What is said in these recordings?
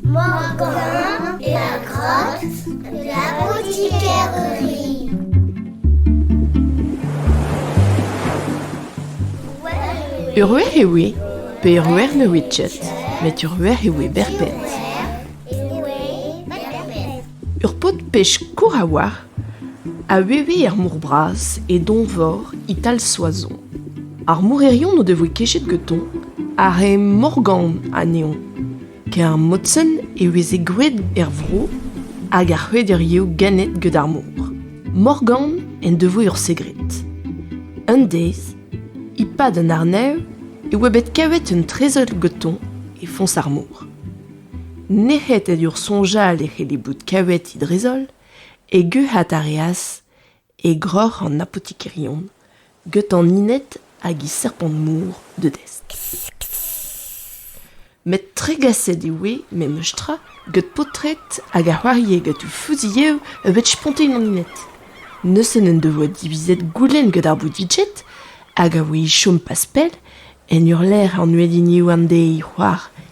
Morgan e a grog l'apotikerie. Ur wer eo eo, pe ur wer ne oe ket, met ur wer eo eo berped. Ur paotr pech kour a oar, A veve er mor bras, e donvor e-tal Soazon. Ar mourerion o devoe kechet gantañ ar re Morgan anezhañ, ker Motsen e veze gwraet er vro hag ar c'hwederiou ganet gant ar mor. Morgan en devoe ur segred. Un deiz, e-pad an arnev, e oa bet kavet un trezell gantañ e foñs ar mor. Nec'het en ur soñjal e c'helle bout kavet he drezol E guc'hat a reas e groc'h an apotikerion, getan inet hag he serpant-mor dedesk. Met tregaset e oe memestra gant paotred hag a c'hoarie gant o fuzilhev e bed spontet an inet. Neuze n'en devoa divizet goulenn gant ar boudidjed hag a oe e chom pas pell en ur lec'h an uheliniou an deiz c'hoar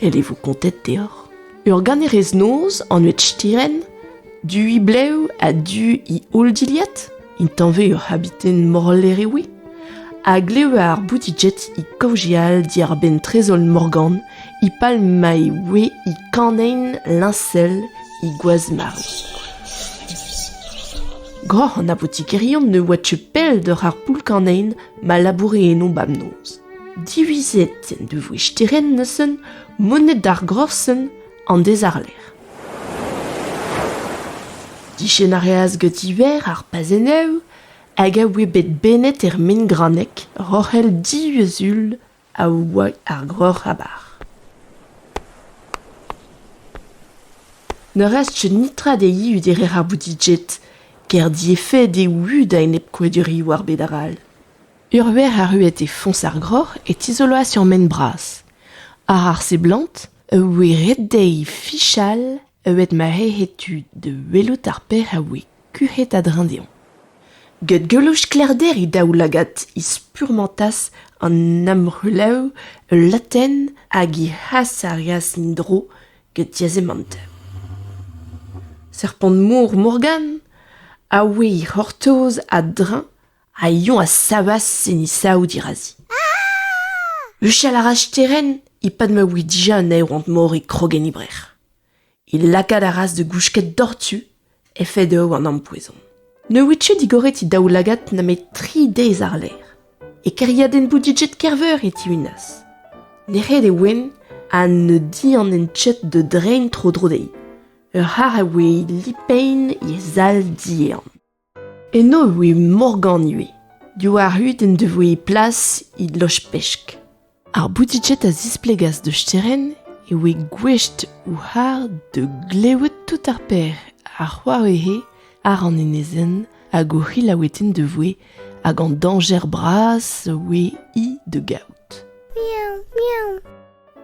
El e vo kontet deoc'h. Ur ganerez-noz anvet Stiren, du he blev ha du he holl dilhad, intañvez ur c'habiten morler e oe, a glev ar bouti-jet e kaozeal diàr-benn trezol Morgan, e pal ma e oe e kanein liñsel he gwaz-marv. Groc'h an apotikerion ne oa teu pell doc'h ar poull-kanein ma laboure eno bamnoz. Divizet en devoe sterenn neuzen moned ar grosenn an dezarler. Dichen a reas gant-iver ar pazenneù hag a oe bet bennet er Mengranneg roc'hell diuzul a oa ar Groc'h-Abar. Ne rested netra dezhi udere ar Boudijet, ker diefed eo da enep koueduriou ar bed arall. Ur verc'h arruet e foñs ar groc'h e tizoloas ur ment bras. Àr ar seblant e voe ret dezhi fichal evit ma c'hellfe tud da welout ar pec'h a voe kuc'het a-dreñv dezhañ. Get geloù sklaerder he daoulagad he spurmantas an amc'houlev ul latenn hag he c'hasarias en-dro get diazemant. Serpant-mor Morgan a voe he c'hortoz a-dreñv Al lion a savas enni sav dirazi. Huchal a ra sterenn e-pad ma voe dija un aeront-mor e krog en e brec'h. E lakaat a ras da gousket doc'htu efed eo an ampoezon. Ne oe tu digoret e daoulagad nemet tri dez àr-lerc'h. E kêriadenn Boudijet Kerveur e tihunas. Nec'het e oen ha ne dianen ket da drein tro-dro dezhi. Ur c'harr a voe lipein e sal diehan. Eno e voe Morgan ivez. Diwar-hed en devoe plas he loch-pesk. Ar boutiked a zisplegas da Sterenn e voe gouest ouc'har da glevet tout ar per a c'hoare'he àr an enezenn hag o c'hilaoueten da voe hag an dañjer bras a oe hi da gaout. Miaou, miaou.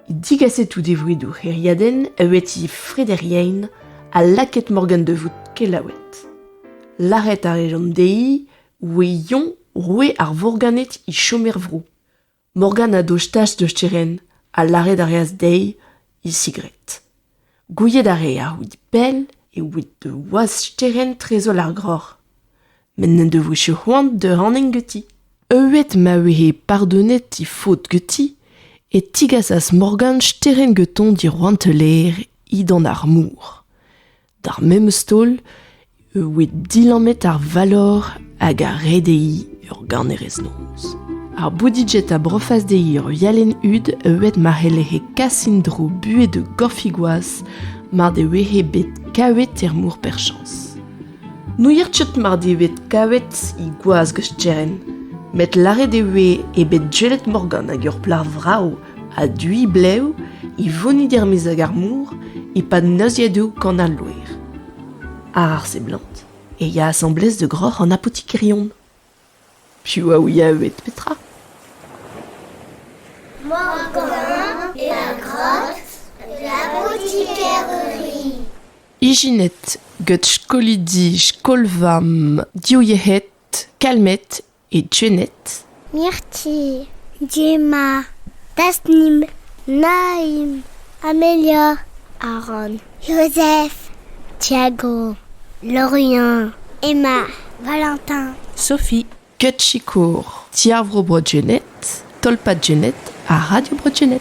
Digaset out e vridou c'hêriadenn eueti Frederien ha lakaet Morgan da vout kelaouet. Lâret a rejont dezhi oe Yon roue ar Vorganed e chom er vro. Morgan a dostaas da Steren ha lâret a reas dezhi e sigred. Gouiet a reer out pell e oit boaz sterenn trezol ar groc'h met n'en devoe ket c'hoant da rann ganti. Heuet ma vehe pardonet he faotr ganti e tigasas Morgan sterenn gantañ dirouantelezh he dan ar mor. D'ar memes taol e oe dilammet ar valor hag a ree dezhi ur ganerez-noz. Ar Boudijet a brofas dezhi ur vialenn-hud euet ma c'helle'he kas en-dro buhez da gorfig-gwaz mar devehe bet kavet er mor perchañs. N'ouier ket mar dez bet kavet he gwaz gwestenn, met lâret e voe eo bet jelet Morgan hag ur plac'h vrav ha duiñ blev e vonid er-maez ag ar mor e-pad neuziadoù kan al loer. Àr ar seblant e ya asambles da groc'h an apotikerion. Piv a ouie evet petra? Morgolin e a grog l'apotikeri. Ijinet gant skolidi skol-vamm div yec'hed, kalmet E Jened. Mirti, Gemma, Tasnim, Naim, Amelia, Aaron, Joseph, Thiago, Lorient, Emma, Valentin, Sophie, Ket Sikour, Ti ar Vro Bro Jened, Tolpad Jened ha Radio Bro Jened.